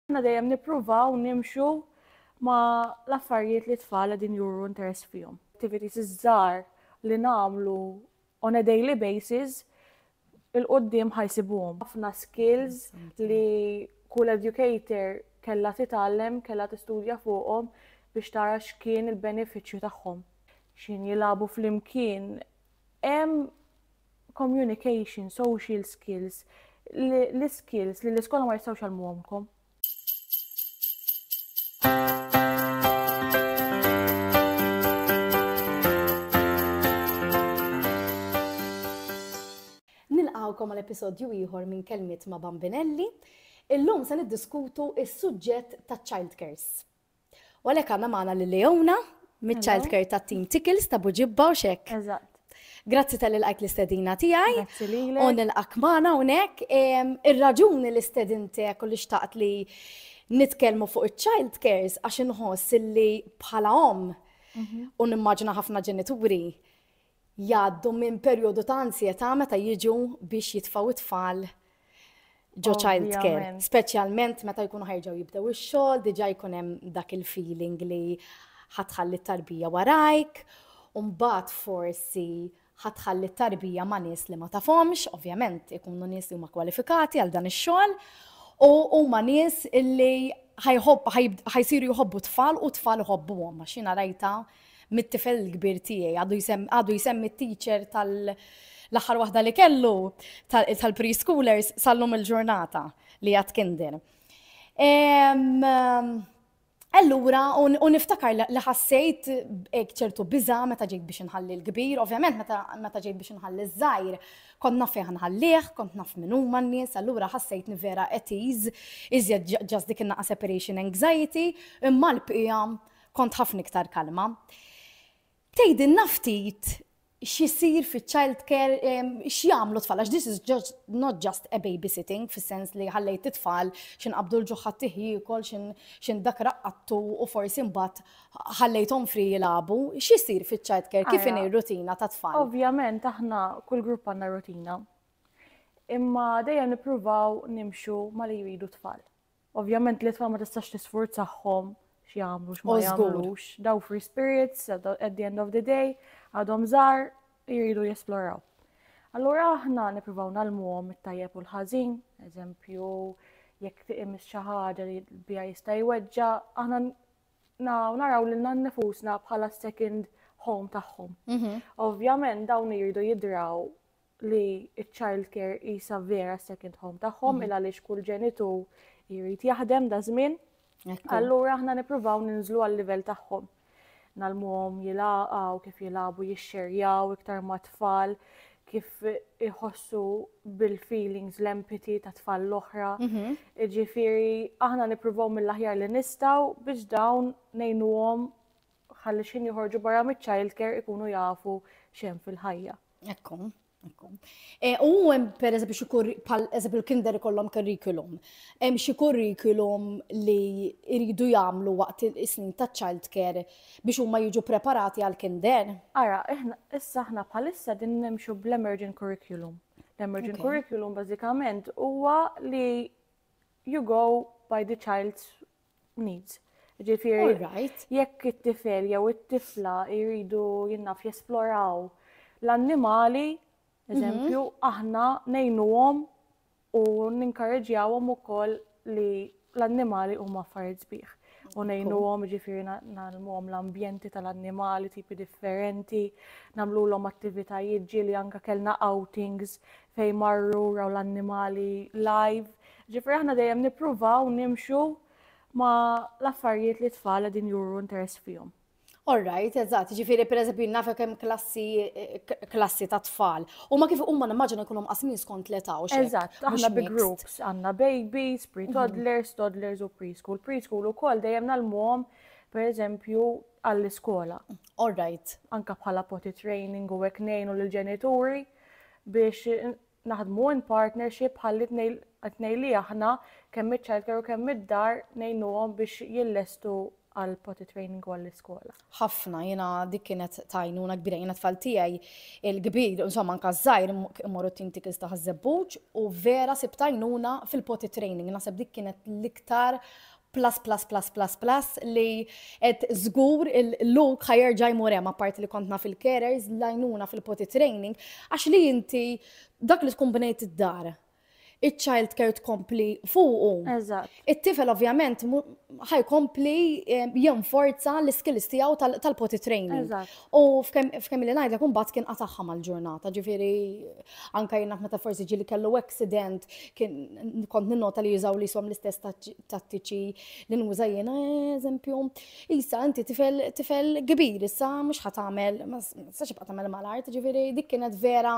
Aħna dejjem nippruvaw nimxu ma l-affarijiet li tfal qegħdin juru interess fihom. Activities iż-żgħar li nagħmlu on a daily basis il-qudiem ħajsibuhom. Ħafna skills li kull educator kellha titgħallem, kellha tistudja fuqhom biex tara x'kien il-benefiċċju tagħhom. X'ħin jilagħbu flimkien, hemm communication, social skills, l-skills li l-iskola ma jistgħux jgħallmuhomkom. Nilqawkom għal episodju ieħor minn Kelmiet ma' Bambinelli. Illum se niddiskutu is-suġġett ta' childcares. U għalhekk għandna magħna lil Leona miċ-child care tat-team Tickles ta' Buġibba u xek. Eżatt. Grazzi tal ilqajt l-istedina tiegħi. Grazzi lilek. U nilqak magħna hawnhekk. Ir-raġuni li stedintek u li xtaqt li nitkellmu fuq iċ-child cares għax inħoss li bħala om mhm. u nimmaġina ħafna ġenituri jgħaddu minn perjodu ta' ansjetà meta jiġu biex jitfgħu t-tfal ġo child care, speċjalment meta jkunu ħerġgħu jibdew ix-xogħol, diġà jkun hemm dak il-feeling li ħatħalli t-tarbija warajk, u mbagħad forsi ħatħalli t-tarbija ma' nies li ma tafhomx, ovvjament ikunu nies li huma kwalifikati għal dan ix-xogħol, u huma nies li ħajsiru jħobbu tfal u tfal iħobbuhom, għax jiena rajta mit-tifel il-kbir tiegħi għadu jsemmi t-teacher tal-aħħar waħda li kellu tal-preschoolers sal-lum il-ġurnata li għad kinder. Allura, u niftakar li ħassejt ek ċertu biza meta ġejt biex nħalli l-kbir, ovvjament meta ġejt biex nħalli z-zajr, kont naf fejn nħallih, kont naf minn huma n-nies, allura ħassejt vera etiz, iżjed ġas dik separation anxiety, imma l-pija Kont ħafna iktar kalma. Tgħidilna ftit x'isir fiċ-child care, x'jagħmlu tfal, għax this is just, not just a babysitting, fis-sens li ħallejt it-tfal xin qabdu l-ġuħħa tiħjikol, xin dak raqqattu u forsi mbagħad ħallejthom fri jilabu. X'isir fiċ-child care, kif inhi rutina ta' tfal? Ovvjament aħna kull grupp għandna rutina. Imma dejjem nippruvaw nimxu ma li jridu tfal. Ovvjament li tfal ma tistax tisfurzahom x'jagħmlu x'ma jagħmlux. Daw free spirits at the end of the day għadhom żgħar jridu jesploraw. Allura aħna nippruvaw nalmuhom it-tajjeb u l-ħażin, eżempju, jekk tiqim xi ħaġa li bija jista' jweġġa, aħna naraw lil nifusna bħala second home tagħhom. Mhm. Ovvjament dawn jridu jidraw li ċ-child care jisa vera second home tagħhom mhm. il għaliex kull ġenitu jrid jaħdem da żmien. Allura aħna nippruvaw ninżlu għal-livell tagħhom. Nalmuhom jilaqgħu kif jilagħbu jixxerjaw iktar ma' tfal kif iħossu bil-feelings l-empathy ta' tfal l-oħra. Mhm. Ġifiri, aħna nippruvaw mill-aħjar li nistaw biex dawn nejnuhom ħalli xħin joħorġu barra mit-child care ikunu jafu xem fil-ħajja. Ekku, ekku. E, u hemm per eżempju xi bħal eżempju l-kinder ikollhom curriculum. Hemm xi curriculum li jridu jagħmlu waqt is-snin ta' child care biex huma jiġu preparati għal kinder. Ara, issa aħna bħalissa din nimxu bl-emergent curriculum. L-emergent curriculum bażikament huwa li you go by the child's needs. Ġifieri, jekk it-tifel jew it-tifla jridu jinnaf jesploraw l-annimali, mhm. eżempju, aħna nejnuhom u ninkarreġjawhom ukoll li l-annimali huma affarijiet sbieħ. U nejnuhom ġifieri nagħlmuhom l-ambjenti tal-annimali tipi differenti, nagħmluhom attivitajiet ġieli anke kellna outings fejn marru raw l-annimali live. Ġifieri aħna dejjem nippruvaw nimxu ma l-affarijiet li tfal qegħdin juru interess fihom. All right, eżatt, ġifiri per eżempju nafa kemm klassi klassi ta' tfal. U ma kif huma nimmaġina jkunu mqasmin skont l-età u xejn. Eżatt, aħna bi groups għandna babies, pre-toddlers, mhm. toddlers u preschool. Preschool ukoll dejjem nalmuhom per eżempju għall-iskola. All right. Anka bħala potty training u hekk ngħinu lill-ġenituri. biex naħdmu in partnership bħalli t-tnejn li aħna kemm iċ-childcare u kemm id-dar ngħinuhom biex jillestu għal potty training u għall-iskola. Ħafna, jiena dik kienet tajnuna kbira, jiena tfal tiegħi il-kbir, insomma anka żgħir immorru tim tikils taħ żebbuġ u vera sib tajnuna fil-potty training, naħseb dik kienet l-iktar plus plus plus plus plus li qed żgur il-luk ħajerġa' jmur hemm apparti li kont naf il-carers l-għajnuna fil-potty training għax li inti dak li tkun bnejt id-dar il-child care tkompli fuqu. It-tifel ovvjament ħajkompli eh, jenforza l-skills tiegħu tal-potty training. U f'kemm li ngħidlek imbagħad kien qatagħha mal-ġurnata, ġifieri anke jien meta forsi ġieli kellu accident kien kont ninnota li jużaw li som l-istess tattiċi li nuża jiena eżempju. Isa inti tifel tifel kbir issa mhux ħa tagħmel ma sax tibqa' tagħmel mal-art, ġifieri dik kienet vera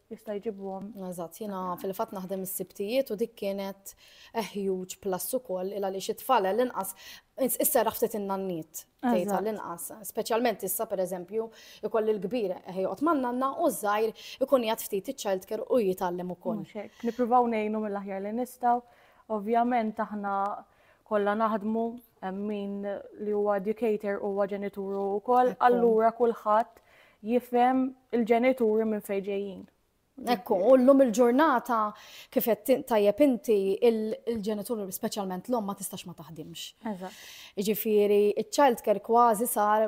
jista' jġibhom. Eżatt, jiena fil-fatt naħdem is-sibtijiet u dik kienet a huge plus ukoll il għaliex it-tfal l-inqas isserraħ ftit in-nanniet tgħid l-inqas. Speċjalment issa pereżempju ikolli l-kbir ħejqot man-nanna u żgħir ikun jgħid ftit iċ-child care u jitgħallem ukoll. Nippruvaw ngħinu mill-aħjar li nistgħu. Ovvjament aħna kollha naħdmu min li huwa educator huwa ġenituru wkoll, allura kulħadd jifhem il-ġenituri minn fejn ġejjin. Ekku, u l-lum il-ġurnata kif qed tajjeb inti il-ġenituri speċjalment l-om ma tistax ma taħdimx. Ġifieri iċ-child care kważi sar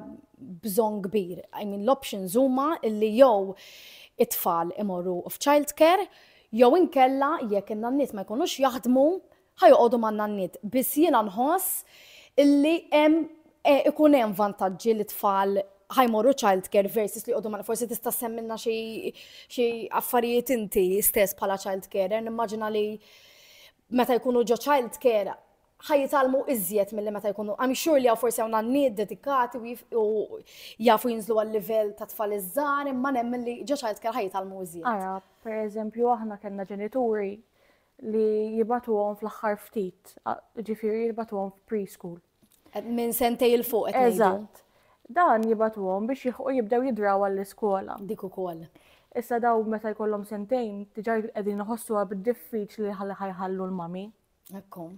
bżonn kbir. I mean l-options huma illi jew it-tfal imorru f'child care jew inkella jekk in-nanniet ma jkunux jaħdmu Ħa joqogħdu man-nanniet. Biss jiena nħoss li hemm ikun hemm vantaġġi li tfal ħa jmorru childcare versus li joqogħdu man Forsi tista' ssemmilna xi xi affarijiet inti stess bħala childcarer. Nimmaġina li meta jkunu ġo childcare ħa jitalmu iżjed milli meta jkunu. I'm sure li hawn forsi hawn nanniet dedikati u jafu jinżlu għal-livell ta' tfal iż-żgħar imma nemmen li ġo childcare ħa jitalmu iżjed. Ara, pereżempju aħna kellna ġenituri li jibatuhom fl-aħħar ftit, ġifieri jibatuhom f'preschool. Minn sentej il fuq qed Eżatt. Dan jibatuhom biex jilħqu jibdew jidraw għall-iskola. Dik ukoll. Issa daw meta jkollhom sentejn diġà qegħdin iħossuha bid-diffiċli li ħalli ħajħallu l-mami. Ekku.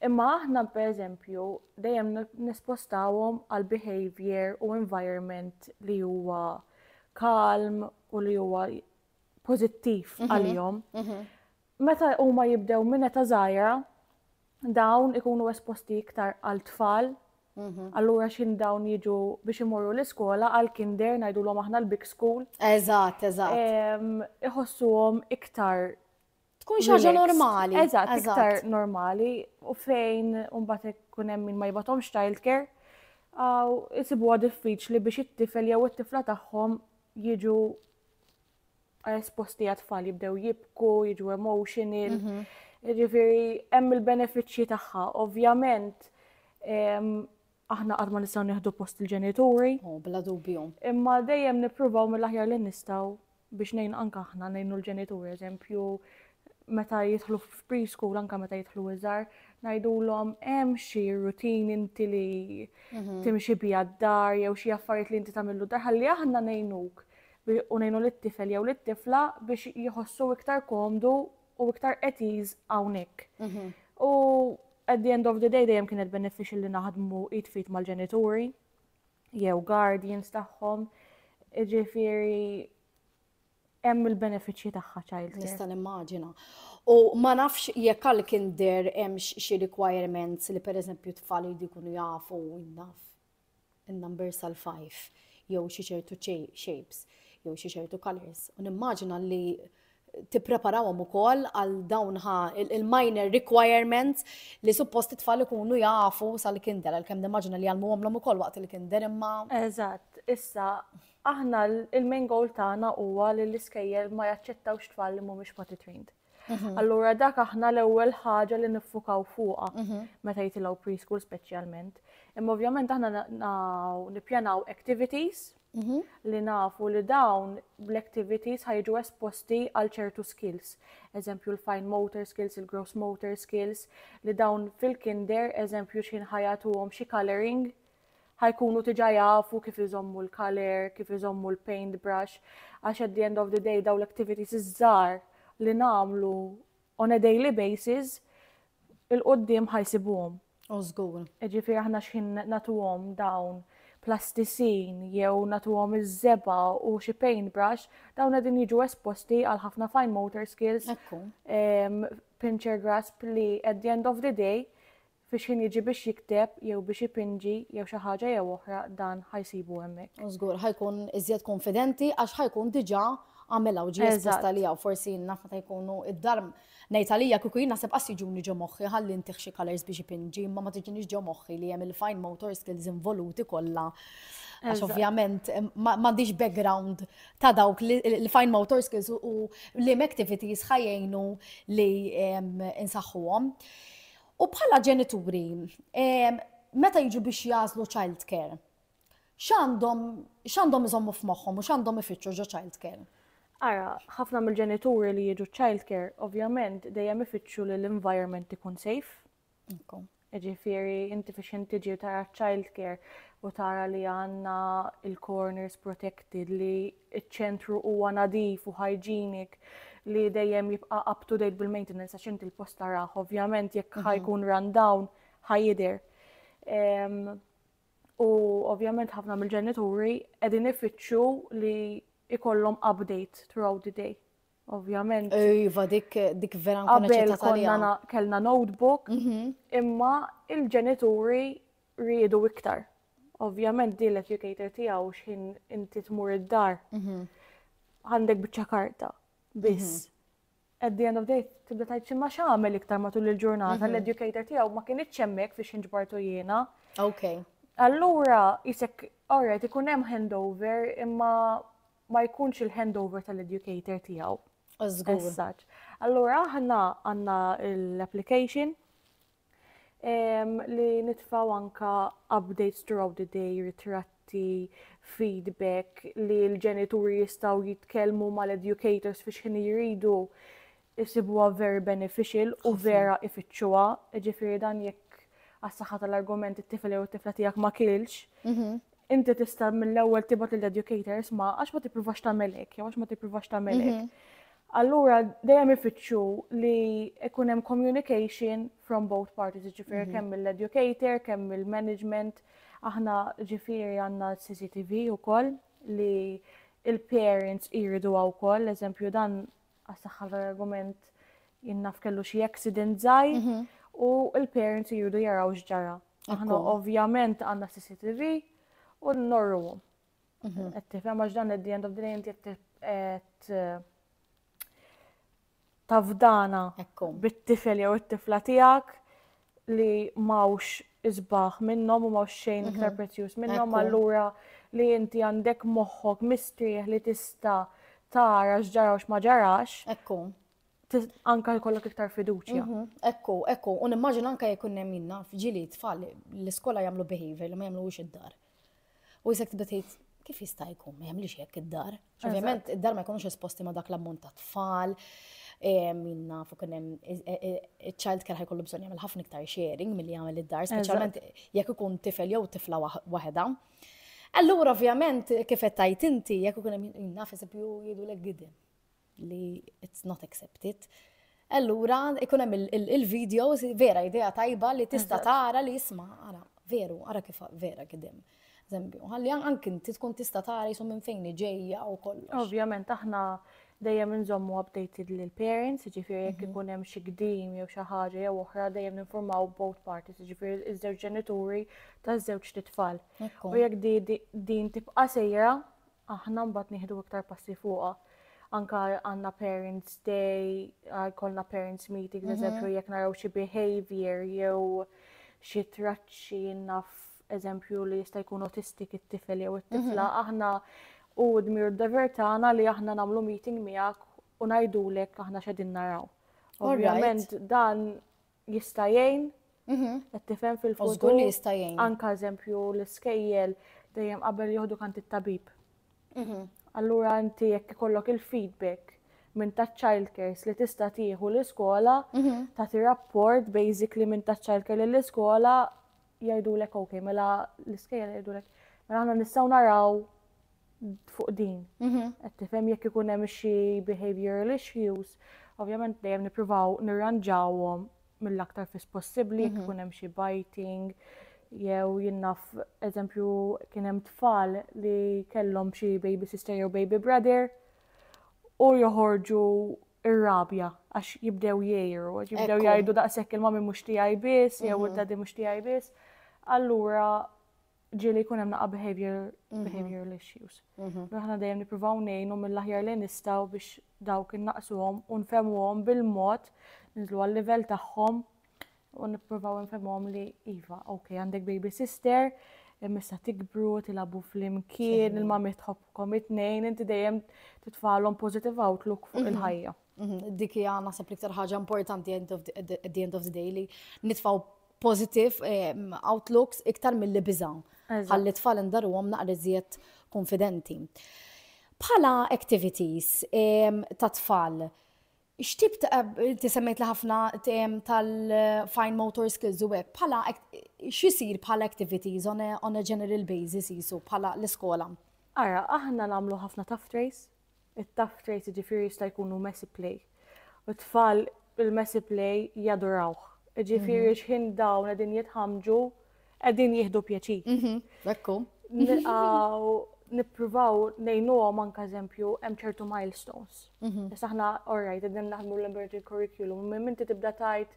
Imma aħna pereżempju dejjem nispostawhom għal behavior u environment li huwa kalm u li huwa pożittiv mhm. għalihom. Mhm. Meta huma jibdew minn eta żgħira, dawn ikunu esposti iktar għal tfal, mhm. allura xin dawn jiġu biex imorru l-iskola għal kinder najdu l-om aħna l-big school. Eżat, eżat. Iħossuhom iktar Tkun xi ħaġa normali. Eżatt, iktar normali u fejn mbagħad ikun hemm min ma jibgħathomx childcare għaw isibuha diffiċli biex it-tifel jew it-tifla tagħhom jiġu esposti għat-tfal jibdew jibku, jiġu emotional. Mhm. Ġifieri hemm il-benefiċċji tagħha. Ovvjament Aħna qatt ma nistgħu nieħdu post il-ġenituri. Oh, bla dubju. Imma dejjem nippruvaw mill-aħjar li nistgħu biex nejn anka aħna nejnu l-ġenituri, eżempju, meta jidħlu f'preschool, anka meta jidħlu iżar, najdulhom hemm xi rutin inti li mhm. timxi bija d-dar jew xi affarijiet li inti tagħmillu dar ħalli aħna ngħinuk u ngħinu lit-tifel jew lit-tifla biex jħossu iktar komdu u iktar at ease hawnhekk. U at the end of the day dejjem kienet beneficial li naħdmu id fit mal-ġenituri jew guardians tagħhom. Ġifieri hemm il-benefiċċji tagħha child care. Nista' nimmaġina. U ma nafx jekk għal kinder hemm xi requirements li pereżempju tfal jridu jkunu jafu naf in-numbers tal-five jew xi ċertu shapes jew xi ċertu colours u nimmaġina li tippreparawhom ukoll għal dawn ħa il-minor requirements li suppost it-tfal ikunu jafu sal-kinder għalkemm nimmaġina li għalmuhomlhom ukoll waqt il-kinder imma. Eżatt, issa aħna il-main goal tagħna huwa li l-iskejjel ma jaċċettawx tfal li mhumiex potty trained. Mhm. Allura dak aħna l-ewwel ħaġa li niffukaw fuqha mhm. meta jitilgħu preschool speċjalment. Imma ovvjament aħna nippjanaw activities mhm. li nafu li dawn l-activities ħajġu esposti għal ċertu skills. Eżempju l-fine motor skills, il-gross motor skills, li dawn fil-kinder, eżempju xħin ħajatuhom xi coloring ħa jkunu diġà jafu kif iżommu l-colour, kif iżommu l-paint brush, għax at the end of the day dawn l-activities iż-żgħar li nagħmlu on a daily basis il-qudiem ħa jsibuhom. Oh, żgur. Ġifieri aħna x'ħin nagħtuhom dawn plastisin jew natuhom iż-żeba u xi paintbrush, dawn qegħdin jiġu esposti għal ħafna fine motor skills, pincher grasp li at the end of the day Fi xħin jiġi biex jikteb jew biex ipinġi jew xi ħaġa jew oħra dan ħa jsibu hemmhekk. U żgur ħa jkun iżjed kunfidenti għax ħa jkun diġà għamilha u ġie espost għaliha u forsi jien naf meta jkunu id-dar ngħid għalija kieku jien naħseb qas jiġuni ġo moħħi ħalli ntih xi colours biex ipinġi imma ma tiġinix ġo moħħi li hemm il-fine motor skills involuti kollha Għax ovvjament m'għandix background ta' dawk li l-fine motor skills u l-im activities ħajjejnu li insaħħuhom. U bħala ġenituri, meta jiġu biex jagħżlu childcare, x'għandhom iżommu f'moħħhom u x'għandhom ifittxu ġo childcare? Ara, ħafna mill-ġenituri li jiġu childcare, ovvjament, dejjem ifittxu li l-environment ikun safe. Ġifieri, inti fiex inti ġi tara childcare u tara li għandna il-corners protected li iċ-ċentru huwa nadif u hygienic li dejjem jibqa' up to date bil-maintenance għax inti l-post tarah ovvjament jekk ħa jkun run down ħa jidher. U ovvjament ħafna mill-ġenituri qegħdin ifittxu li ikollhom update throughout the day. Ovvjament. Iva, dik, dik vera nkun ċerta tal-jom. Kellna notebook, mhm. imma il-ġenituri riedu iktar. Ovvjament din l-educator tiegħu x'ħin inti tmur id-dar. Mhm. Għandek biċċa karta biss. Mhm. At the end of the day, tibda tajt ximma xamel iktar matul il-ġurnata, l-educator tiegħu ma kien iċċemmek fiex inġbartu jiena. Ok. Allura, jisek, alright, ikun hemm handover, imma ma jkunx il-handover tal-educator tiegħu. Żgur. Allura aħna għandna l-application li nitfaw anka updates throughout the day, ritratti, feedback li l-ġenituri jistaw jitkellmu mal-educators fi xħin jridu isibuha very beneficial u vera ifittxuha, jiġifieri dan jekk għas-saħħa tal-argument it-tifel jew it-tifla tiegħek ma kielx, mhm. inti tista' mill-ewwel tibgħat lil educators ma għax ma tippruvax tagħmel hekk, jew għax ma tippruvax tagħmel hekk. Mhm. Allura dejjem ifittxu li ikun hemm communication from both parties, ġifieri mhm. kemm mill-educator, kemm mill-management, aħna ġifieri għandna CCTV wkoll li il-parents iridu wkoll, eżempju dan Għas-saħħa tal-argument jien naf kellu xi accident żgħir mhm. u l-parents jridu jaraw x'ġara. Aħna ovvjament għandna CCTV u norruhom. Mhm. Qed tifhem għax dan id-dien of the inti qed eh, tafdana bit-tifel jew it-tifla tiegħek li mawx isbaħ minnhom u mawx xejn mhm. iktar prezzjuż minnhom allura li inti għandek moħħok mistrieħ li tista' tara x'ġara u x'ma ġarax. Ekku. Anka jkollok iktar fiduċja. Mhm. Ekku, ekku, u nimmaġina anka jekk hemm minna f'ġili tfal l-iskola jagħmlu behavior li ma jagħmluhux id-dar. U jisek tibda tgħid kif jista' jkun ma jagħmlix hekk id-dar. Ovvjament id-dar ma jkunux esposti ma dak l-ammont ta' tfal, minna fuq kien hemm child care ħajkollu bżonn jagħmel ħafna iktar sharing milli jagħmel id-dar, speċjalment jekk ikun tifel jew tifla waħedha. Allura ovvjament kif qed tajt inti jekk ikun hemm naf eżempju jgħidulek gidem. li it's not accepted. Allura, ikun hemm il-videos, vera idea tajba li tista tara li jisma, ara, veru, ara kif vera kidem. Zembju, għalli anki inti tkun tista tara jisum minn fejn ġejja u kollox. Ovvjament, aħna dejjem nżommu updated lil parents, ġifiri jekk mhm. ikun hemm xi gdim jew xi ħaġa jew oħra dejjem ninformaw both parties, ġifiri iż-żewġ ġenituri taż-żewġ titfal. U jekk din tibqa' sejra, aħna mbagħad nieħdu iktar passi fuqha. Anka għandna parents day, jkollna parents meeting, mhm. eżempju jekk naraw xi behavior jew xi traċċi naf eżempju li jista' jkun autistik it-tifel jew it-tifla, mhm. aħna u dmir d-dever tagħna li aħna nagħmlu meeting miegħek u ngħidulek aħna x'edin naraw. Ovvjament dan jista' jgħin, mhm. qed tifhem fil-futur li jista' jgħin. Anka eżempju l-iskejjel dejjem qabel jieħdu kant it-tabib. Mhm. Allura inti jekk ikollok il-feedback minn ta' childcares li tista' tieħu l-iskola, mhm. tagħti rapport basically minn ta' childcare lill-iskola jgħidulek ok, mela l-iskejjel jgħidulek, mela aħna nistgħu naraw fuq din. Mhm. Qed tifhem jekk ikun hemm xi behavioral issues, ovvjament dejjem nippruvaw nirranġawhom mill-aktar fis possibbli jekk mhm. ikun hemm xi biting jew jinnaf eżempju kien hemm tfal li kellhom xi baby sister jew baby brother u joħorġu ir-rabja għax jibdew jgħiru, għax jibdew Ekku. jgħidu daqshekk il-mami mhux tiegħi biss jew Mhm. id-dadi mhux tiegħi biss. Allura ġieli jkun hemm naqa' behavior Mhm. behavioral issues. Mhm. Allura aħna dejjem nippruvaw ngħinu mill-aħjar li nistgħu biex dawk innaqsuhom u nfehmuhom bil-mod, ninżlu għal-livell tagħhom u nippruvaw nfemhom li iva, ok, għandek baby sister, missa tikbru, tilabu fl-imkien, il-mami tħobkom it-tnejn, inti dejjem titfalhom positive outlook fuq mhm. il-ħajja. Mhm. Dik hija naħseb l-iktar ħaġa importanti at the end of the day li nitfaw positive ehm, outlooks iktar mill-li biżaw. Għalli tfal indaru għom naqri zjed konfidenti. Bħala activities ehm, ta' tfal, X'tip ta' inti semmejt li ħafna tal-fine motor skills u hekk bħala x'isir bħala activities on a, on a general basis jisu bħala l-iskola? Ara, aħna nagħmlu ħafna tough trays, it-tough trays jiġifieri jista' jkunu messy play. U tfal il-messy play jadurawh. Jiġifieri x'ħin dawn qegħdin jitħamġu Qegħdin jieħdu pjaċir. Mhm, Bekku. Nilqgħu nippruvaw ngħinuhom anke eżempju hemm ċertu milestones. Mhm. Issa aħna orajt qegħdin naħdmu l-emerging curriculum, minn inti tibda tajt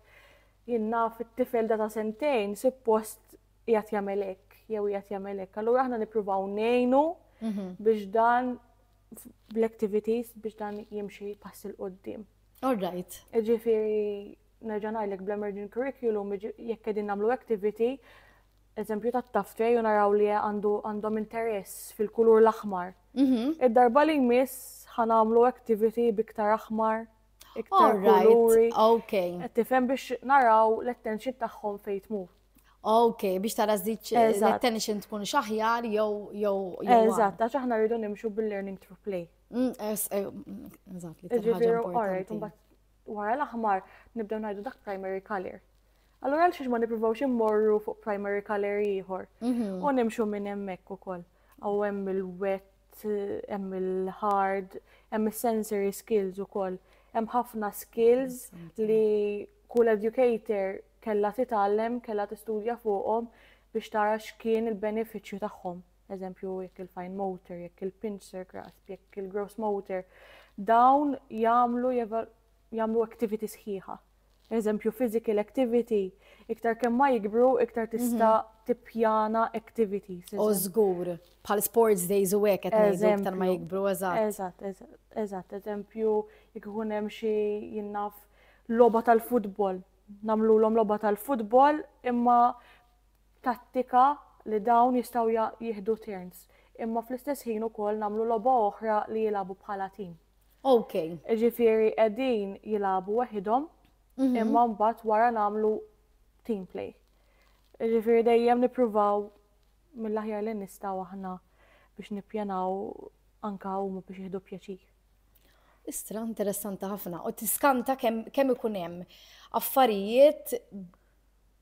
jien naf it-tifel da ta' sentejn suppost qiegħed jagħmel hekk jew qiegħed jagħmel hekk. Allura aħna nippruvaw ngħinu Mhm. biex dan f- bl-activities biex dan jimxi pass il qoddim All right. Ġifiri, nerġa' ngħidlek bl-emerging curriculum jekk qegħdin nagħmlu activity, eżempju ta' taftware u naraw li għandu għandhom interess fil-kulur l-aħmar. Mhm. Id-darba li jmiss ħanamlu activity biktar aħmar, iktar kuluri. Ok. Tifhem biex naraw l-attention tagħhom fejn tmur. Ok, biex tara żdiċ l-attention tkun xaħjar jew jew. Eżatt, għax aħna rridu nimxu bil-learning through play. Mm, eh, mm, eżatt, li Ġifieri, all right, Wara l-aħmar nibdew ngħidu dak primary color. Allura għal xiex ma nippruvawx immorru fuq primary color ieħor. Mhm. U nimxu minn hemmhekk ukoll. Aw hemm il-wet, hemm il-hard, hemm is-sensory skills ukoll. Hemm ħafna skills li kull educator kella titgħallem, kella tistudja fuqhom biex tara x'kien il-benefiċċju tagħhom. eżempju jekk il-fine motor, jekk il-pincer grasp, jekk il-gross motor, dawn jagħmlu jagħmlu activity sħiħa. Eżempju physical activity, iktar kemm ma jikbru, iktar mhm. tista' tippjana activities. U żgur, bħal sports days u hekk qed ngħidu iktar ma jikbru, eżatt. Eżatt, eżatt, eżempju jekk ikun hemm xi jinnaf logħba tal-futbol, nagħmluhom logħba tal-futbol imma tattika li dawn jistgħu jieħdu turns imma fl-istess ħin ukoll nagħmlu logħba oħra li jilagħbu bħala tim. Okay. Jiġifieri qegħdin jilagħbu weħidhom mhm. imma mbagħad wara nagħmlu team play. Jiġifieri dejjem nippruvaw mill-aħjar li nistgħu aħna biex nippjanaw anka huma biex jieħdu pjaċir. Istra interessanti ħafna u tiskanta kemm ikun hemm affarijiet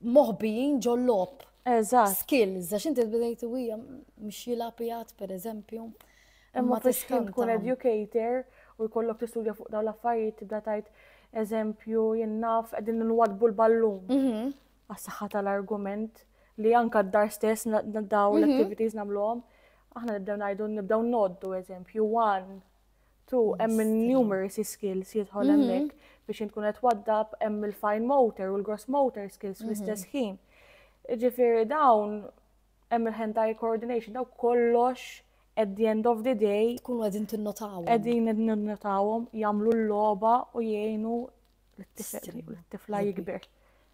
moħbijin ġol-lob. Eżatt. Skills, għax inti bdejt u hija mhux jilgħab jgħid pereżempju. Imma fiex tkun educator u jkollok tistudja fuq dawn l-affarijiet tibda tajt eżempju jinnaf qegħdin nwadbu l-ballun. Mhm. Għas-saħħa tal-argument li anka d-dar stess daw mhm. l-activities nagħmluhom. Aħna nibdew ngħidu nibdew noddu eżempju one Tu hemm il-numeracy skills jidħol mhm. hemmhekk biex tkun qed waddab hemm il-fine motor u l-gross motor skills mhm. fl-istess ħin. Ġifieri dawn hemm il-hand eye coordination daw kollox at the end of the day. Tkunu qegħdin tinnotawhom. Qegħdin tinnotawhom jagħmlu l-logħba u jgħinu l-tifla jikber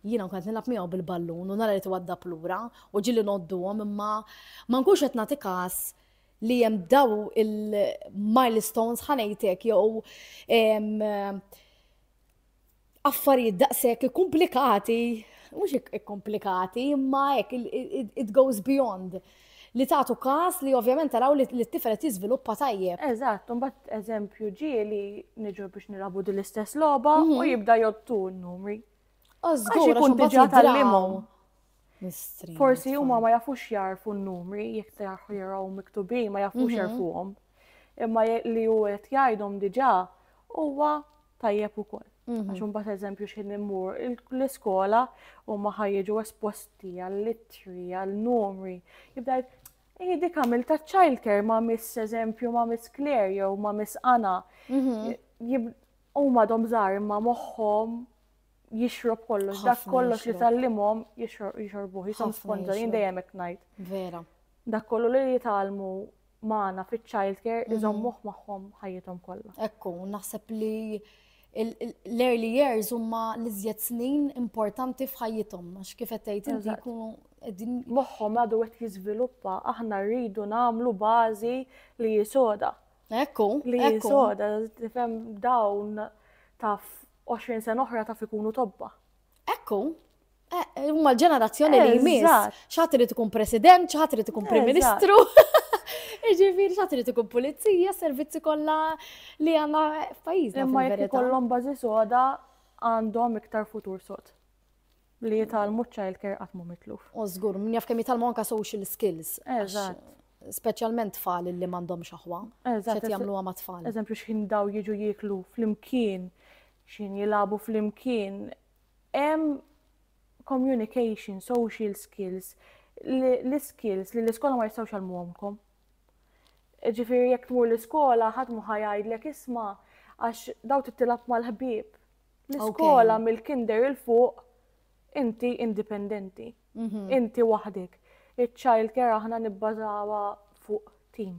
jiena nkun qed nilgħab miegħu bil-ballun u nara li twaddab lura u ġili nodduhom imma ma nkunx qed nagħti każ li hemm daw il-milestones ħa ngħid hekk jew affarijiet daqshekk ikkumplikati, mhux ikkumplikati, imma hekk it goes beyond li tagħtu każ li ovvjament taraw li t-tifel qed jiżviluppa tajjeb. Eżatt, imbagħad eżempju ġieli niġu biex nilagħbu din l-istess logħba u mhm. jibda jottu n-numri. Għax ikun diġà tal-limgħu. Forsi huma ma jafux jarfu n-numri jekk jarfu jaraw miktubin, ma jafux mhm. jarfuhom. Imma li hu qed jgħidhom diġà huwa tajjeb ukoll. Mhm. Għax imbagħad eżempju xi immur l-iskola huma ħajġu esposti għall-ittri, għall-numri. Jibda Ej, dik għamil ta' childcare ma' miss eżempju ma' miss Claire jew ma' miss Anna. Mhm. Huma dom żgħar imma moħħhom jixrob kollox, dak kollox li tallimhom jixorbuh, jisom sponġa, jien dejjem hekk ngħid. Vera. Dak kollu li jitalmu magħna fiċ-child care mhm. iżommuh magħhom ħajjithom kollha. Ekku, naħseb li l-early years huma l-iżjed snin importanti f'ħajjithom, għax kif qed tgħid inti jkunu qegħdin moħħhom għadu qed jiżviluppa, aħna rridu nagħmlu bażi li jisoda. Ekku, li jisoda, tifhem dawn taf 20 sena oħra taf ikunu tobba. Ekku, eh, huma l-ġenerazzjoni li jmiss. Xaħat irid ikun president, xaħat irid ikun prim ministru. Ġifiri, xaħat irid ikun pulizija, servizzi kollha li għandna f'pajjiżna. Imma jekk ikollhom bażi soda għandhom iktar futur sod. Li jitalmu child care qatt mhu mitluf. U żgur, min jaf kemm jitalmu anka social skills. Eżatt. Speċjalment tfal li m'għandhomx aħwa. Eżatt. jagħmlu ma' tfal. Eżempju x'ħin daw jiġu jieklu flimkien, x'ħin jilagħbu flimkien. Hemm communication, social skills, l-iskills li l-iskola ma jistgħux jgħallmuhomkom. Ġifieri jekk tmur l-iskola ħadd mhu ħa jgħidlek isma' għax daw tittilab mal-ħbieb L-iskola mill-kinder il fuq inti indipendenti, mhm. inti waħdek. Il-child care aħna nibbażawa fuq team.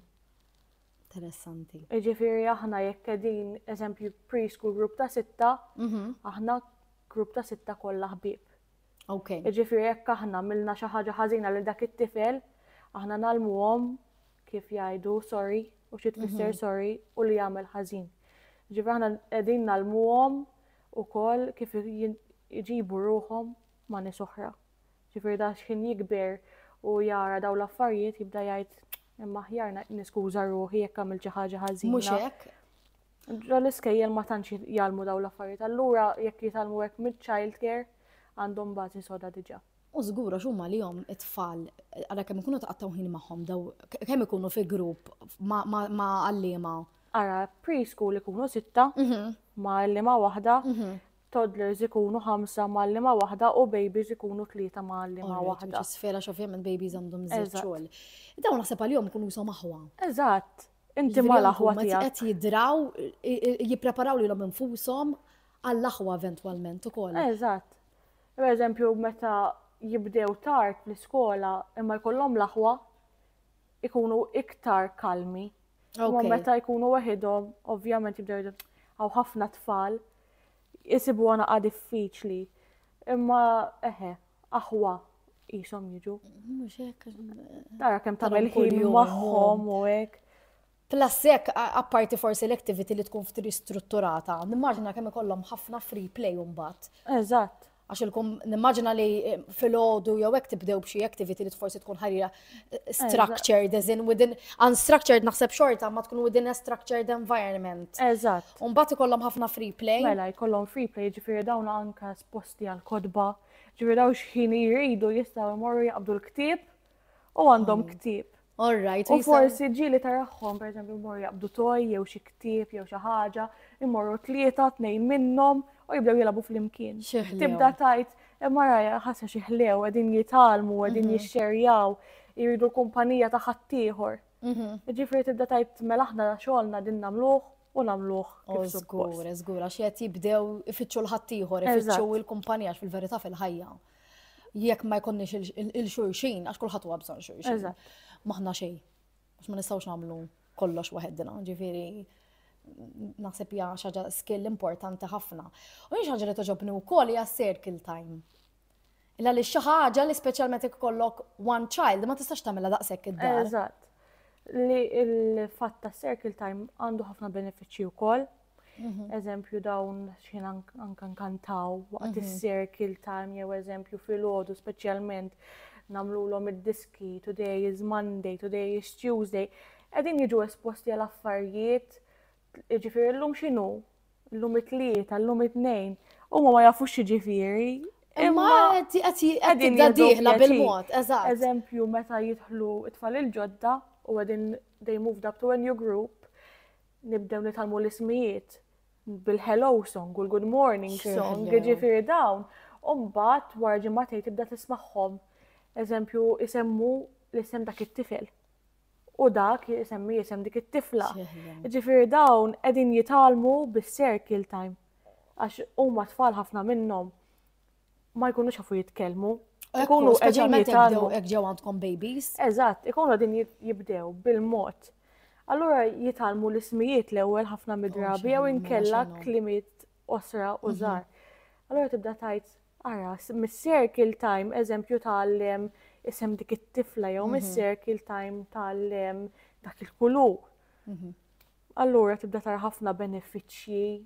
Interessanti. Ġifiri aħna jekk qegħdin eżempju preschool grupp ta' sitta, mhm. aħna grupp ta' sitta kollha ħbieb. Okay. Jiġifieri jekk aħna għamilna xi ħaġa ħażina lil dak it-tifel, aħna nalmuhom kif jgħidu sorry u xi tfisser mhm. sorry u li jagħmel ħażin. Ġifieri aħna qegħdin nalmuhom ukoll kif jġibu ruhom ma' nies oħra. Ġifieri da x'ħin jikber u jara daw l-affarijiet jibda jgħid imma ħjarna niskuża ruħi jekk għamil xi ħaġa ħażina. Mhux hekk. Ġo l-iskejjel ma tantx jgħallmu dawn l-affarijiet, allura jekk jitgħallmu hekk mill-childcare għandhom bażi soda diġà. U żgur għax huma lihom it-tfal, ara kemm ikunu taqattaw ħin magħhom daw, kemm ikunu fi grupp ma' għalliema. Ara, preschool ikunu sitta mhm. ma' għalliema waħda, mhm. toddlers ikunu ħamsa ma' għalliema waħda u babies ikunu tlieta ma' għalliema waħda. Sfera x'ovvjament babies għandhom żewġ xogħol. Dawn naħseb għalihom ikunu jisom aħwa. Eżatt. Inti ma l-aħwa tiegħek. Qed jidraw, jippreparaw lilhom infushom għall-aħwa eventwalment ukoll. Eżatt. Per eżempju, meta jibdew tard l-iskola imma jkollhom l-aħwa ikunu iktar kalmi. Imma meta jkunu waħidhom, ovvjament jibdew għaw ħafna tfal jisibu għana diffiċli. Imma eħe, aħwa qishom jiġu. Mhux hekk. Tara kemm tagħmel ħin magħhom u hekk. Plasek, apparti forsi l-activity li tkun ftri strutturata, nimmaġina kemm ikollhom ħafna free play mbagħad. Eżatt. Għax ilkom nimmaġina li eh, fil-ħodu jew hekk tibdew b'xi activity li forsi tkun ħarira eh, structured, as in within unstructured naħseb xorta ma tkun within a structured environment. Eżatt. Mbagħad ikollhom ħafna free play. Mela jkollhom free play ġifieri dawn anka posti għall-kotba, ġifieri dawn x'ħin jridu jistgħu jmorru jaqbdu l-ktieb u għandhom hmm. ktieb. All right. U forsi ġili taraħħom, per eżempju, jmorru jaqbdu toj, jew xi ktieb, jew xi ħaġa, jmorru tlieta, tnejn minnhom u jibdew jilagħbu flimkien. Tibda tajt, e, mara ħassa xi ħlew, qegħdin jitalmu, qegħdin mhm. jixxerjaw, jridu kumpanija ta' ħaddieħor. Mhm. Ġifieri tibda tajt mela aħna xogħolna din nagħmluh u nagħmluh kif suppost. Żgur, żgur, għax qed jibdew ifittxu l-ħaddieħor, ifittxu l-kumpanija għax fil-verità fil-ħajja. Jekk ma jkunniex il-xulxin, għax kulħadd huwa bżonn xulxin. Maħna xejn, għax ma nistgħux nagħmlu kollox waħedna, ġifieri naħseb hija xaġa skill importanti ħafna. U hija xaġa li toġobni wkoll hija circle time. Illa għaliex xi ħaġa li speċjalment jekk kollok one child ma tistax tagħmilha daqshekk id-dar. Eżatt. Li l-fatt ta' circle time għandu ħafna benefiċċji wkoll. Mhm. Eżempju dawn xien anka nkantaw waqt mhm. is-circle time jew eżempju fil-ħodu speċjalment namlulhom id-diski today is Monday, today is Tuesday. Qegħdin jiġu esposti għal affarijiet Ġifieri llum x'inhu? Llum it-tlieta, llum it-tnejn. Huma ma jafux x'ġifieri. Imma qegħdin diħla bil-mod, eżatt. Eżempju, meta jidħlu it-tfal il-ġodda u qegħdin they moved up to a new group, nibdew nitalmu l-ismijiet bil-hello song u l-good morning song, ġifieri dawn. Umbat, wara ġimgħatej tibda tismagħhom. Eżempju, isemmu l-isem dak it-tifel. u dak jisemmi jisem dik it-tifla. Ġifir dawn edin jitalmu bis-circle time. Għax huma tfal ħafna minnhom ma jkunu xafu jitkellmu. Ikunu qegħdin jitalmu. Hekk ġew għandkom babies. Eżatt, ikunu qegħdin jibdew bil-mod. Allura jitalmu l-ismijiet l-ewwel ħafna midrabi jew inkella klimiet osra u mhm. żgħar. Allura tibda tajt Ara, mis-circle time eżempju tgħallem isem dik it-tifla jew mis-circle time tgħallem dak il-kulur. Allura tibda tara ħafna benefiċċji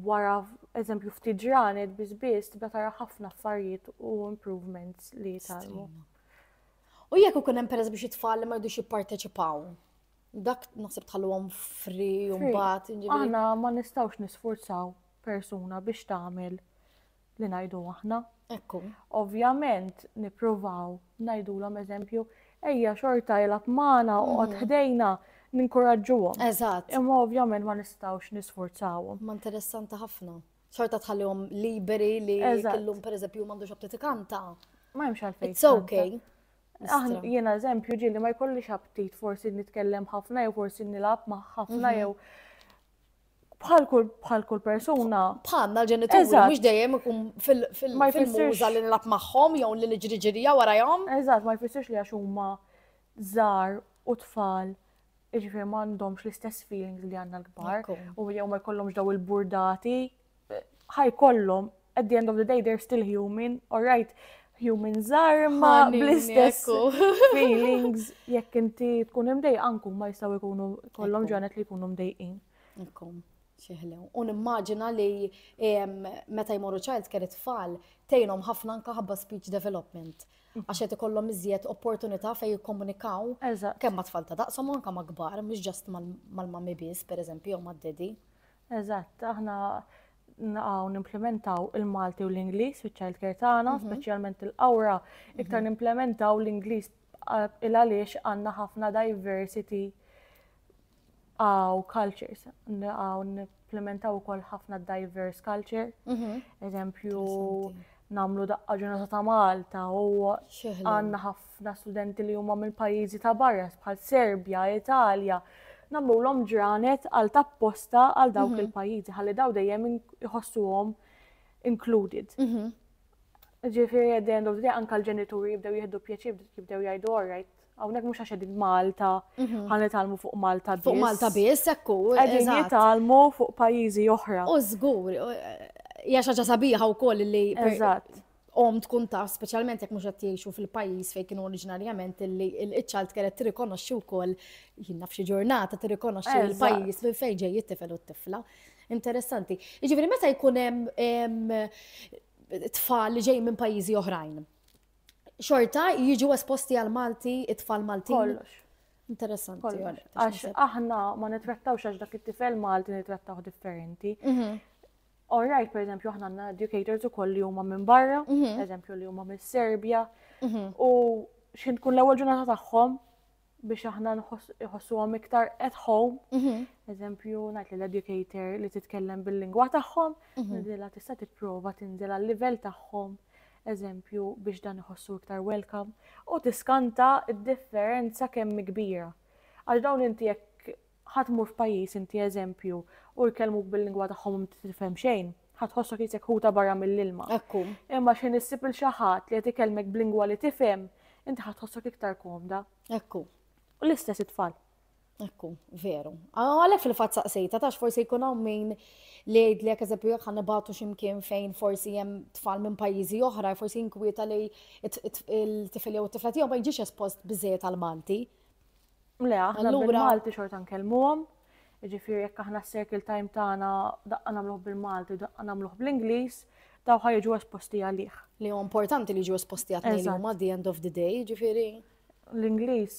wara eżempju ftit ġranet biss biss tibda tara ħafna affarijiet u improvements li tgħallmu. U jekk ikun hemm pereż biex it-tfal li ma jridux jipparteċipaw, dak naħseb tħalluhom fri u mbagħad. Aħna ma nistgħux nisfurzaw persuna biex tagħmel li ngħidu aħna. Ekku. Ovvjament nippruvaw ngħidulhom eżempju, ejja xorta jilgħab magħna oqgħod mhm. ħdejna ninkuraġġuhom. Eżatt. Imma ovvjament ma nistgħux nisfurzawhom. Ma interessanti ħafna. Xorta tħallihom liberi li kellhom pereżempju m'għandux abtiti kanta. Ma hemmx għalfejn. It's okay. Aħna jiena eżempju ġieli ma jkollix aptit forsi nitkellem ħafna jew forsi nilgħab ma' ħafna mhm. jew bħal kull bħal kull persuna. Bħalna l-ġenituri mhux dejjem ikun fil-muża li nilab magħhom jew li niġri ġirija warajhom. Eżatt, ma jfissirx li għax huma żar u tfal iġifier m'għandhomx l-istess feelings li għandna l-kbar u jew ma jkollhomx daw il-burdati ħa jkollhom at the end of the day they're still human, alright, human żgħar ma Ħanin, bl-istess ekku. feelings jekk inti tkun imdejq anku ma jistgħu jkunu kollhom Ekku. ġranet li jkunu mdejqin. Ekkom, xieħlew. U nimmaġina li em, meta jmorru child care it-tfal tejnhom ħafna anka ħabba speech development. Għax qed ikollhom iżjed opportunità fejn jikkomunikaw Eżatt. kemm ma' tfal ta' daqshom u anka ma' kbar, mhux ġast mal- mal-mami biss, pereżempju, jew mad-dedi. Eżatt, aħna naqgħu nimplementaw il-Malti u l-Ingliż fiċ-child care tagħna, mhm. speċjalment il-qawra, mhm. iktar nimplementaw l-Ingliż il għaliex għandna ħafna diversity għaw cultures, għaw nimplementaw ukoll ħafna diverse culture, mhm. eżempju namlu daqqa ġurnata ta' Malta u għandna ħafna Ħafna studenti li huma minn pajjiżi ta' barra bħal Serbja, Italja, nagħmlulhom ġranet għal tapposta għal dawk mhm. il-pajjiżi ħalli daw dejjem iħossuhom included. Mhm. Ġifieri at the end of the day anke l-ġenituri jibdew jieħdu pjaċir jibdew jgħidu all right. Hawnhekk mhux għax qegħdin Malta, mhm. ħan nitalmu fuq Malta biss. Fuq Malta biss ekku. Qegħdin jitalmu fuq pajjiżi oħra. U żgur, hija xi ħaġa sabiħa wkoll li omm tkun taf, speċjalment jekk mhux qed jgħixu fil-pajjiż fejn kienu oriġinarjament illi iċ-child care qed tirrikonoxxi wkoll jien naf xi ġurnata tirrikonoxxi l-pajjiż minn fejn ġej it-tifel u t-tifla. Interessanti. Jiġifieri meta jkun hemm tfal li ġej minn pajjiżi oħrajn. Xorta jiġu esposti għal Malti, it-tfal Malti. Kollox. Interessanti. Għax aħna ma nitrattawx għax dak it-tifel Malti nitrattaw differenti. Mhm. All right, per eżempju, aħna għandna educators ukoll li huma minn barra, mhm. per eżempju li huma minn Serbja, mhm. u x'in tkun l-ewwel ġurnata tagħhom biex aħna nħossuhom iktar at home. Mhm. Eżempju, ngħid li l-educator li titkellem bil-lingwa tagħhom, nidilha tista' tipprova tinżel għal-livell tagħhom eżempju biex dan iħossu iktar welcome u tiskanta id-differenza kemm kbira. Għax dawn inti jekk Ħa tmur f'pajjiż inti eżempju u jkellmuk bil-lingwa tagħhom u m'inti tifhem xejn, ħa tħossok isek ħuta barra mill-ilma. Hekk hu. Imma x'ħin issib 'il xi ħadd li qed ikellmek b'lingwa li tifhem, inti ħa tħossok iktar komda. Hekk hu. U l-istess it-tfal. Hekk hu, veru. Għalhekk fil-fatt saqsejta tax forsi jkun hawn min li jgħidlek eżempju jekk ħa nibgħatu x'imkien fejn forsi hemm tfal minn pajjiżi oħra, forsi jinkwieta li il-tifel jew it-tifla tiegħu ma jiġix espost biżejjed għall-Malti. Le, aħna bil-Malti xorta nkellmuhom, ġifiri jekk aħna s-circle time tagħna daqqa nagħmluh bil-Malti, daqqa nagħmluh bl-Ingliż, daw ħajġu esposti għalih. Li huwa importanti li ġu esposti għatni li huma the end of the day, ġifiri. L-Ingliż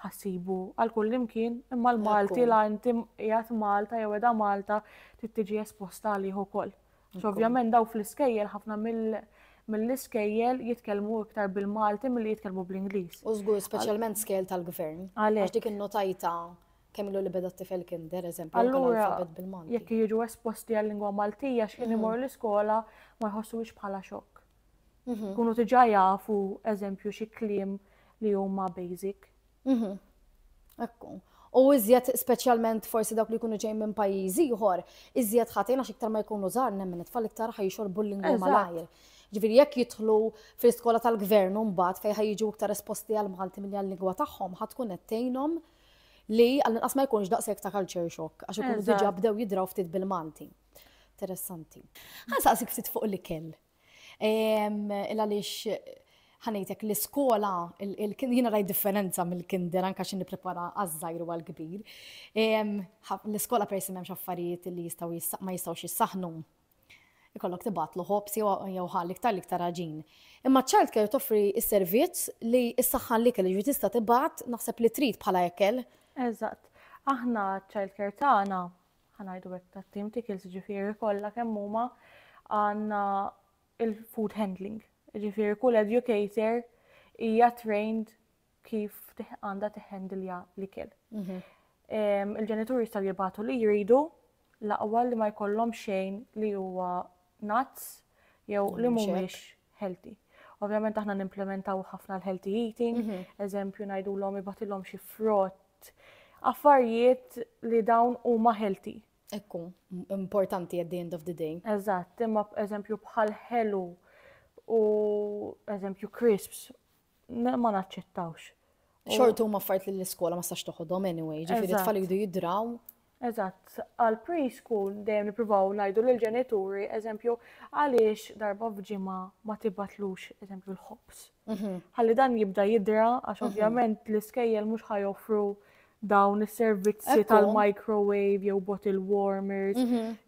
ħassibu għal kull imkien, imma l-Malti la inti qiegħed Malta jew edha Malta trid tiġi esposta għalih ukoll. Ovvjament daw fl-iskejjel ħafna mill-iskejjel jitkellmu iktar bil-Malti milli jitkellmu bl-Ingliż. U żgur speċjalment skejjel tal-gvern. Għalhekk. Għax dik innotajta kemm ilu li beda t-tifel kinder, eżempju, allura jekk jiġu esposti għal-lingwa Maltija x'kien imur l-iskola ma jħossuhiex bħala xokk. Kunu diġà jafu eżempju xi kliem li huma basic. Ekku. U iżjed speċjalment forsi dawk li jkunu ġejjin minn pajjiż ieħor, iżjed ħatin għax iktar ma jkunu żgħar nemmen it-tfal iktar ħajxorbu l-lingwa malajr. Ġifieri jekk jidħlu fl-iskola tal-gvern u mbagħad fejn ħajġu iktar esposti għall-Malti milli għal-lingwa tagħhom ħa tkun qed tgħinhom li għall-inqas ma jkunx daqshekk ta' culture shock għax ikunu diġà bdew jidraw ftit bil-Malti. Interessanti. Għan saqsik ftit fuq l-ikel. Il-għalix ħanejtek l-iskola, jina raj differenza mill-kinder anka xin niprepara għazzajr u għal-kbir. L-iskola per jisimem xaffarijiet li jistaw ma jistaw jissaħnu. Ikollok tibat l-ħobs jew ħallik tal-iktar raġin. Imma ċalt kellu toffri s-servizz li s-saħħan li kellu tista tibat naħseb li trid bħala ekel. Eżatt. Aħna ċalt kertana ħa ngħidu hekk tat-tim tickles ġifieri kollha kemm huma għandna il-food handling. Ġifieri kull educator hija trained kif għandha tiħendilja l-ikel. Mhm. Il-ġenituri jistgħu jibgħatu li jridu laqwa li ma jkollhom xejn li huwa nuts jew li mhumiex healthy. Ovvjament aħna nimplementaw ħafna l-healthy eating, mhm. eżempju najdu l-om ibatilom xi frott, affarijiet li dawn huma healthy. Ekku, importanti at the end of the day. Eżatt, imma eżempju bħal ħelu u eżempju crisps, ma naċċettawx. Xortu ma fart li l-iskola ma stax toħodhom anyway, ġifiri tfal jidu jidraw. Eżatt. Għal pre-school dejjem nippruvaw ngħidu lill-ġenituri, eżempju, għaliex darba f'ġimgħa ma tibgħatlux, eżempju, l-ħobż. Ħalli dan jibda jidra għax ovvjament l-iskejjel mhux ħa joffru dawn is-servizzi tal-microwave jew bottle warmers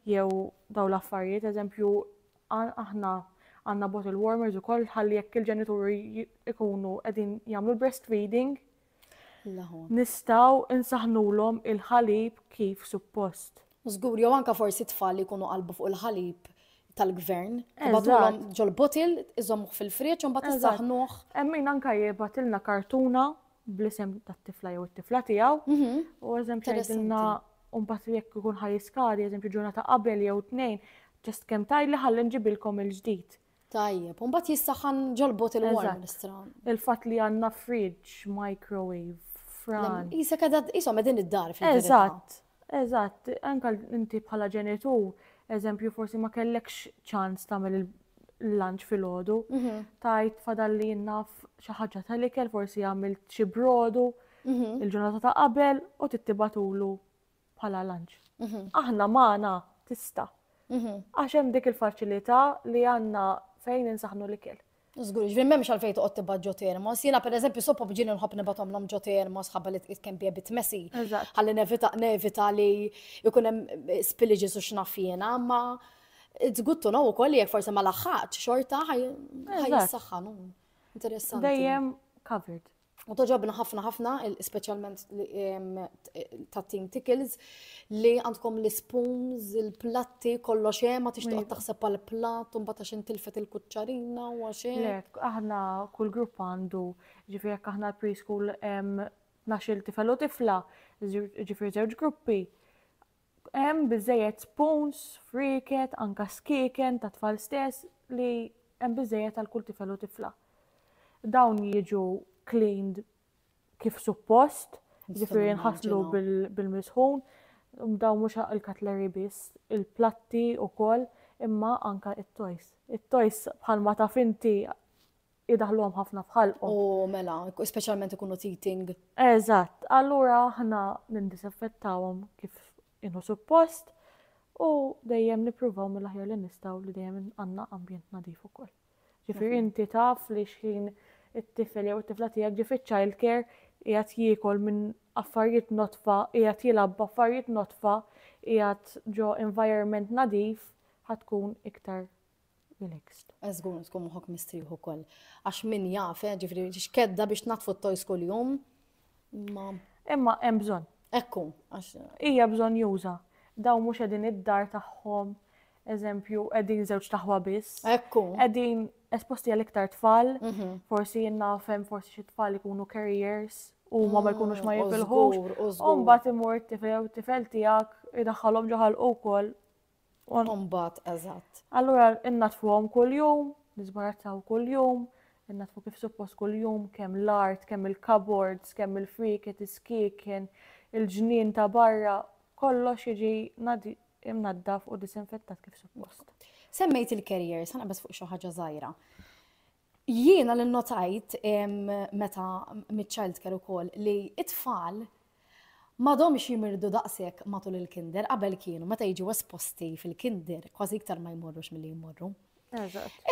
jew dawn l-affarijiet. Eżempju, aħna għandna bottle warmers ukoll ħalli jekk il-ġenituri jkunu qegħdin jagħmlu l-breastfeeding, Nistgħu nsaħħnulhom il-ħalib kif suppost. Żgur, jew anke forsi t-tfal li jkunu qalbu fuq il-ħalib tal-gvern, tibgħatulhom ġol-bottle, iżommuh fil-friġġ u mbagħad issaħħnuh. Hemm min anke jibgħatilna kartuna bl-isem tat-tifla jew it-tifla tiegħu. Mhm. U eżempju tgħidilna u mbagħad jekk ikun ħaj jiskadi, eżempju ġurnata qabel jew tnejn, ġest kemm tgħidli ħalli nġibilkom il-ġdid. Tajjeb, u mbagħad jissaħħan ġol-bot il-warm l-istran. Il-fatt li għandna fridge, microwave, fran. Isa kada isom qegħdin id-dar fil Eżatt, eżatt, anke inti bħala ġenitur, eżempju forsi ma kellekx ċans tagħmel il-lunch fil-ħodu, mhm. tajt fadalli jinnaf xi ħaġa tal-ikel, forsi għamilt xi brodu, mhm. il-ġurnata ta' qabel u tittibatulu bħala lanċ. Aħna magħna tista. Għax hemm dik il-faċilità li għandna fejn insaħnu l-ikel. Zgur, ġviri memx għalfej toqgħod tibgħat ġo termos. Jiena pereżempju soppa bġieni nħobb nibgħathom lom ġo termos ħabba li tqis kemm bjebit messi. Ħalli nevita nevita li jkun hemm eh, spillages u x'naf jiena, ma it's good to know ukoll jekk forsi ma laħħaqx xorta ħaj jissaħħanu. Interessanti. Dejjem covered. U toġobna ħafna ħafna, specialment tat-team Tickles, li għandkom l-spoons, il-platti, kollo xe, ma tixtuq taħseb għal platt, un bata xin tilfet il-kuċċarina u għaxe. Lek, aħna kull grupp għandu, ġifir jek aħna preschool naxil tifel u tifla, ġifir zewġ gruppi, Hemm biżżejjed spoons, frieket, anke skieken tat-tfal stess li hemm biżżejjed għal kull tifel u tifla. Dawn jiġu cleaned kif suppost, ġifieri jinħaslu bil-misħun, dawn mhux il-cutlery biss, il-platti wkoll, imma anke it-toys. It-toys bħalma taf inti idaħluhom ħafna f'ħalqhom. U mela, speċjalment ikunu teething. Eżatt, allura aħna nindisinfettawhom kif inhu suppost u dejjem nippruvaw mill-aħjar li nistgħu li dejjem għandna ambjent nadif ukoll. Ġifieri mhm. inti taf li xħin it-tifel jew it-tifla tiegħek ġi fiċ-child care qiegħed jiekol minn affarijiet notfa, qiegħed jilgħab affarijiet notfa, qiegħed ġo environment nadif ħatkun iktar Relaxed. Eh, Zgur tkun moħok mistrieħ ukoll. Għax min jaf, eh, ġifri, xkedda biex natfu t-tojs kull-jum. Ma. Imma hemm bżonn. Ekku, għax. Hija bżonn juża. Daw mhux qegħdin id-dar tagħhom, eżempju, qegħdin żewġ taħwa biss. Ekku. Qegħdin esposti għal iktar tfal, mhm. forsi jinnafem, forsi xi tfal ikunu carriers u ma ma jkunux ma mm, jifilħux. U mbagħad imur t-tifel tifel tiegħek idaħħalhom ġoħal ukoll U mbagħad eżatt. Allura innaddfuhom kuljum, niżbarazzawhom kuljum, innaddfu kif suppost kuljum, kemm l-art, kemm il-cupboards, kemm il-frieket, is-skieken, il-ġnien ta' barra, kollox jiġi imnaddaf u disinfettat kif suppost. Semmejt il-carriers, ħa naqbeż fuq xi ħaġa żgħira. Jiena li nnotajt meta miċ-childcare ukoll li t-tfal m'għadhomx jimirdu daqshekk matul il-kinder qabel kienu meta jiġu esposti fil-kinder kważi iktar ma jmorrux milli jmorru.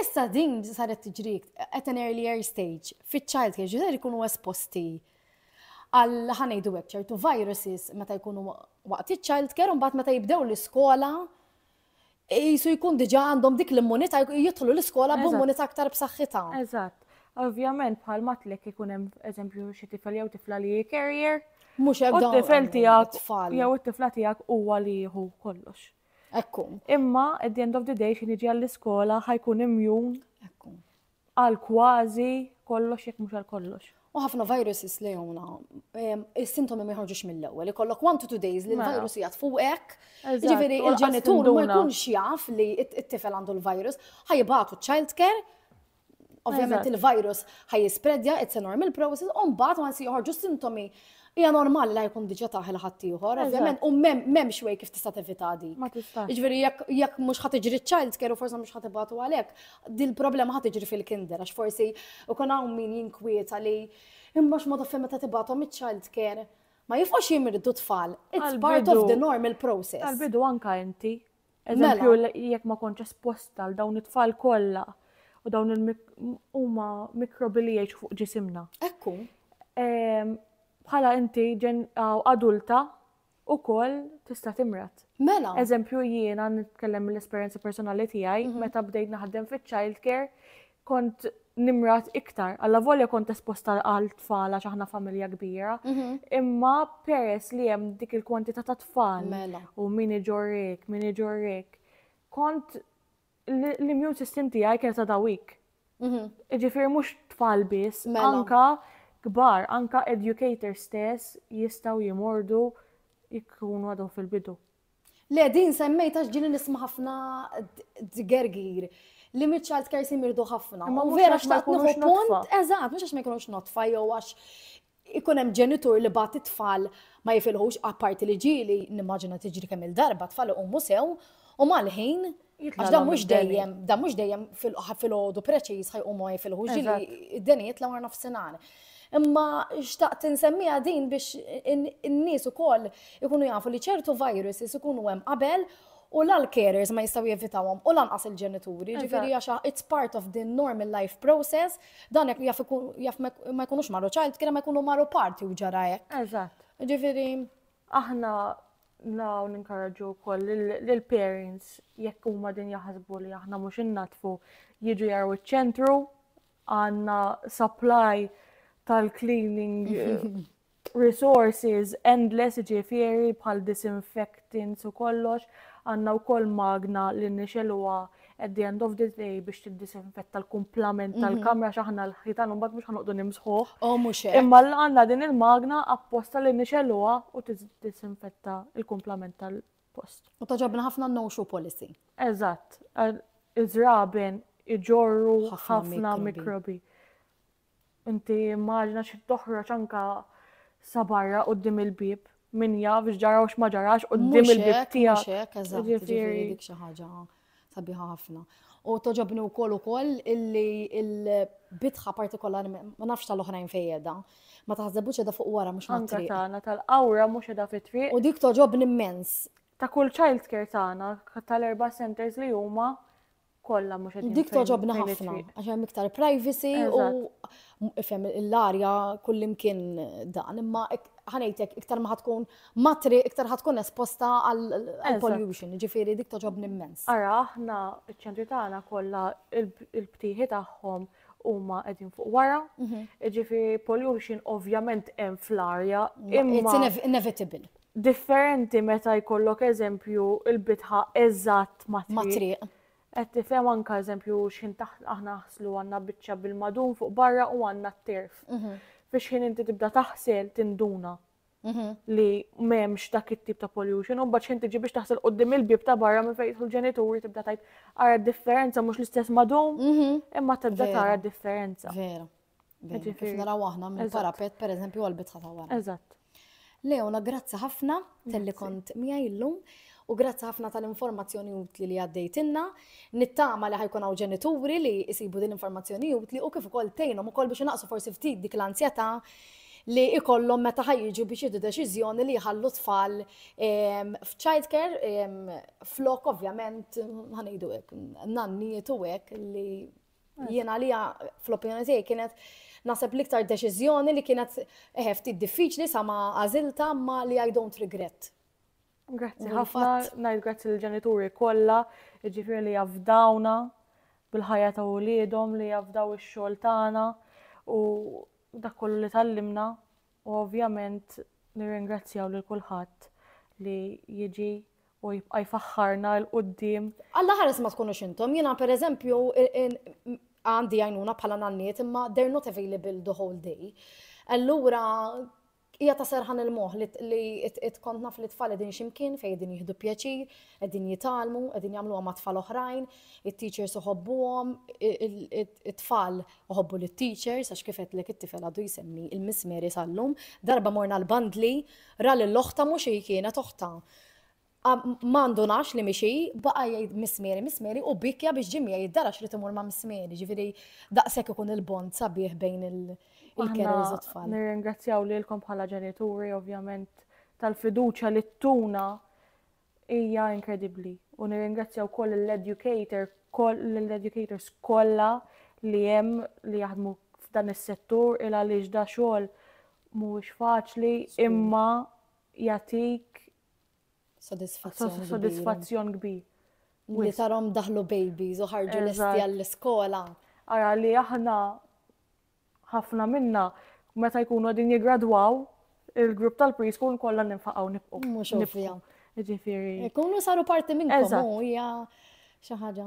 Issa din saret tiġri at an earlier stage fiċ-child care ġifieri jkunu esposti għal ħanejdu hekk ċertu viruses meta jkunu waqt iċ-child care u mbagħad meta jibdew l-iskola Qisu jkun diġà għandhom dik l-immunità jidħlu l-iskola b'immunità aktar b'saħħitha. Eżatt. Ovvjament bħal matlek ikun hemm eżempju xi tifel jew tifla li carrier. Mhux hekk dawn. Tifel tiegħek jew it-tifla tiegħek huwa li jieħu kollox. Ekku. Imma at the end of the day xi niġi għall-iskola ħajkun imjun. Ekku. Għal kważi kollox jekk mhux għal kollox. U ħafna viruses li jowna, il-sintomi ma jħarġux mill-ewwel, ikollok one to two days li mela. l-virus jgħat fuqek. Ġifieri il-ġenitur ma jkunx jaf li t-tifel għandu l-virus, ħajbatu child care, ovvjament il-virus ħaj jispredja, it's a normal process, u mbagħad ma joħorġu sintomi Hija normali la jkun diġà taħ il-ħaddieħor, ovvjament, u m'hemmx way kif tista' tevita di. Ma tista'. Jiġifieri jekk mhux ħadd iġri child care u forsi mhux ħadd ibatu għalhekk, din problema ħadd iġri fil-kinder għax forsi ikun hawn min jinkwieta li imma x'mod fejn meta tibgħathom iċ-child care ma jifqgħux jimirdu tfal. It's part of the normal process. Tal-bidu anka inti Eżempju, mela. jekk ma kontx esposta għal dawn it-tfal kollha u dawn huma mikrobi li jgħixu fuq ġisimna. Ekku. Ehm, bħala inti adulta u koll tista' timrat. Mela. Eżempju jiena nitkellem mill-esperjenza personali tiegħi mhm. meta bdejt naħdem fiċ-child care kont nimrat iktar. Alla volja kont esposta għal tfal għax aħna familja kbira, mhm. imma peress li hemm dik il-kwantità ta' tfal mela. u min iġorrik, min iġorrik, kont l-immune system tiegħi kienet ta' dawik. Mhm. Ġifieri mhux tfal biss, mela. anka kbar, anka educator stess jistgħu jimordu jkunu għadhom fil-bidu. Le, din semmejta xġili nisma ħafna d-gergir li mid child care simirdu ħafna. Ma vera xtaqt nuħu punt, eżat, mux għax ma jkunux notfa jew għax ikun hemm ġenitur li bat it-tfal ma jifilħux apparti li ġili, nimmaġina tiġri kemm il-darba tfal u musew u mal-ħin Għax dan mhux dejjem, dan mhux dejjem fil-ħodu preċiż ħajqumu għaj fil-ħuġ id-denijiet l-għar nofsinhar. Imma xtaqt insemmija din biex in-nies ukoll ikunu jafu li ċertu viruses ikunu hemm qabel u l-carers ma jistaw jevitawhom u lanqas il-ġenituri, ġifieri għax it's part of the normal life process, dan jaf ma jkunux marru ċajt, kien ma jkunu marru parti u ġara hekk. Eżatt. Ġifieri. Aħna Nilgħu ninkoraġġu wkoll lill-parents jekk huma din jaħsbu li aħna mhux innatfu jiġu jaraw iċ-ċentru għandna supply tal-cleaning resources endless ġifieri bħal disinfectants u kollox għandna wkoll magna li nixeluha at the end of the day biex tiddisinfetta l-kumplament mhm. tal-kamra xaħna l-ħitan un bat biex ħanuqdu nimsħuħ. Oh, muxe. Imma l-għanna din il-magna apposta li nixeluwa u tiddisinfetta l-kumplament tal-post. U taġabna ħafna no show policy. Eżatt, iż-żraben iġorru ħafna mikrobi. Inti immaġina xi toħroġ anka sa barra quddiem il-bib, min jaf x'ġara u x'ma ġarax quddiem il-bib tiegħek. Mhux hekk, eżatt, ġifieri dik xi ħaġa sabiħa ħafna. U toġobni u koll u koll illi il-bitħa partikolari, ma nafx tal-oħrajn fejedha, ma taħzebu ċeda fuq wara mux ma triq. Tana tal-awra mux edha fit triq. U dik toġobni immens. Ta' kull child care tana, tal-erba centers li huma kollha mhux qed Dik toġobna ħafna għax hemm iktar privacy u ifhem l-arja kullimkien dan imma ħanejtek iktar ma tkun matri iktar ħatkun esposta għal pollution, ġifieri dik toġobni immens. Ara aħna ċ-ċentri tagħna kollha il-btieħi tagħhom huma qegħdin fuq wara, jiġifieri pollution ovvjament hemm fl-arja. It's inevitable. Differenti meta jkollok eżempju il-bitħa eżatt ma' triq. Qed tifhem anke eżempju x'ħin taħt aħna naħslu għandna biċċa bil-madun fuq barra u għandna t-terf. Fix-ħin inti tibda taħsel tinduna Mhm. li m'hemmx dak it-tip ta' pollution, u mbagħad xejn tiġi biex taħsel qudiem il-bib ta' barra minn fejn jidħlu l-ġenituri tibda tajt ara d-differenza mhux l-istess madum, Mhm. imma tibda Vera. tara d-differenza. Vera. Vera. Kif Ġifieri. naraw aħna minn Eżatt. parapet, per eżempju, għal-bitħa ta' wara. Eżatt. Leona, grazzi ħafna tal-li Grazzi. kont miegħi llum u grazzi ħafna tal-informazzjoni utli li għaddejtinna. Nittama li ħa jkun hawn ġenituri li jsibu din l-informazzjoni utli u kif ukoll tgħinhom ukoll biex inaqqsu forsi ftit dik l-anzjetà li jkollhom meta ħa jiġu biex jieħdu deċiżjoni li jħallu tfal ehm, f'childcare ehm, flok ovvjament ħa ngħidu hekk nannijiet u hekk li jien għalija fl-opinjoni tiegħi kienet naħseb l-iktar deċiżjoni li kienet eh, ftit diffiċli sa ma għażilta ma li I don't regret. Grazzi ħafna, ngħid grazzi l-ġenituri kollha, jiġifieri li jafdawna bil-ħajja ta' uliedhom li jafdaw ix-xogħol tagħna u dak kollu li tallimna u ovvjament nirringrazzjaw lil kulħadd li jiġi u jibqa' jfaħħarna l qudiem Alla ħares ma tkunux intom, jiena pereżempju għandi għajnuna bħala nanniet imma they're not available the whole day. Allura Hija ta' serħan il-moħ li it kont naf li tfal qegħdin ximkien fejn qegħdin jieħdu pjaċir, qegħdin jitalmu, qegħdin jagħmluha ma' tfal oħrajn, it-teachers uħobbuhom, it-tfal uħobbu lit-teachers għax kif qedlek it-tifel għadu jsemmi il-Miss Mary sal-lum, darba morna l-bandli, ra lil oħta mhux hi kienet oħta. Ma ndunax li mixi, baqa jgħid mismeri, mismeri u bikja biex ġimmi jgħid dara xrit imur ma' mismeri, ġifiri daqshekk ikun il-bond sabiħ bejn il-kerriż u tfal. Nirringrazzjaw lilkom bħala ġenituri ovvjament tal-fiduċja li tuna hija inkredibbli. U nirringrazzjaw koll l-educator, l-educators kollha li hemm li jaħdmu f'dan is-settur il għaliex da xogħol mhuwiex faċli imma jatik Sodisfazzjon kbir. Li tarom daħlu babies u ħarġu lesti għall-iskola. Ara li aħna ħafna minna meta jkunu għadin jigradwaw il-grupp tal-preschool kollha ninfaqgħu nibqgħu. Mhux ovvja. Ġifieri. Ikunu saru parti minn hija xi ħaġa.